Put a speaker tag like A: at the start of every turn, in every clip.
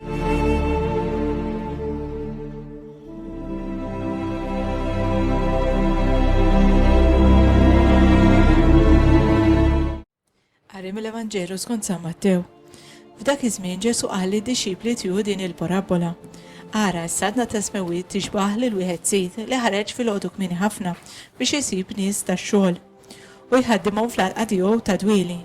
A: Qari mill-Evanġelu skont San Mattew. F'dak iż-żmien Ġesu qal lid-dixxipli tiegħu din il-parabbola. Ara, s-sadna ta' smewwiet tixbah lil wieħed sid li ħareġ filgħodu kmieni ħafna biex isib nies tax-xogħol. u jħaddimhom fl-għalqa tiegħu ta' dwieli.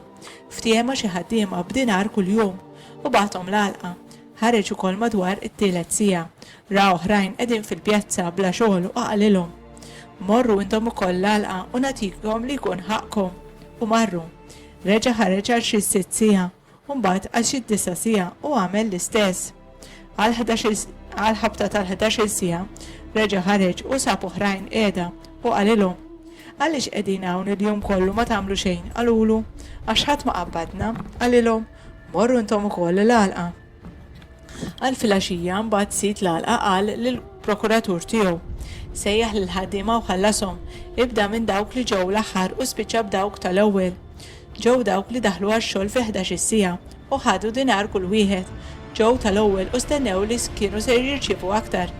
A: Ftiehem ma' xi ħaddiema b'dinar kuljum u bagħathom l-għalqa. Ħareġ ukoll madwar it-tielet siegħa, ra oħrajn qegħdin fil-pjazza bla xogħol u qalilhom, Morru intom ukoll l-għalqa u nagħtikom li jkun ħaqqkom. U marru. Reġa' ħareġ għal xi sitt siegħa. u mbagħad għal xi disa' siegħa u għamel l-istess. Għall-ħabta tal-ħdax-il siegħa reġa' ħareġ u sab oħrajn qiegħda u qalilhom, Għaliex qegħdin hawn il-jum kollu ma tagħmlu xejn? Qalulu, Għax ħadd ma qabbadna. Qalilhom, Morru intom ukoll il-għalqa. Għal filgħaxija mbagħad sid l-għalqa qal lill-prokuratur tiegħu, Sejjaħ lill-ħaddiema u ħallashom, ibda minn dawk li ġew l-aħħar u spiċċa b'dawk tal-ewwel. Ġew dawk li daħlu għax-xogħol fi ħdax-il siegħa u ħadu dinar kull wieħed. Ġew tal-ewwel u stennew li kienu ser jirċievu aktar.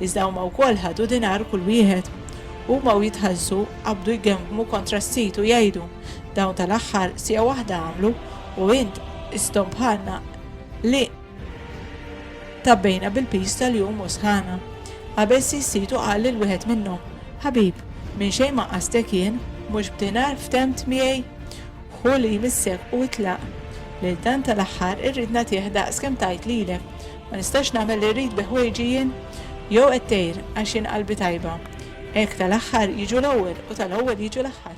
A: Iżda huma wkoll ħadu dinar kull wieħed. Huma u jitħallsu qabdu jgemmgmu kontra s-sid u jgħidu, Dawn tal-aħħar siegħa waħda għamlu u int isthom bħalna li tabbejna bil-piż tal-jum u sħana. Qabel sissitu qal lil wieħed minnhom, Ħabib, minn xejn ma qastek jien, mhux b'dinar ftemt miegħi? Ħu li jmissek u itlaq. Lil dan tal-aħħar irrid nagħtih daqs kemm tajt lilek. Ma nistax nagħmel li rrid bi ħwejġi jien? Jew qed tgħir għax jien qalbi tajba? Hekk tal-aħħar jiġu l-ewwel u tal-ewwel jiġu l-aħħar.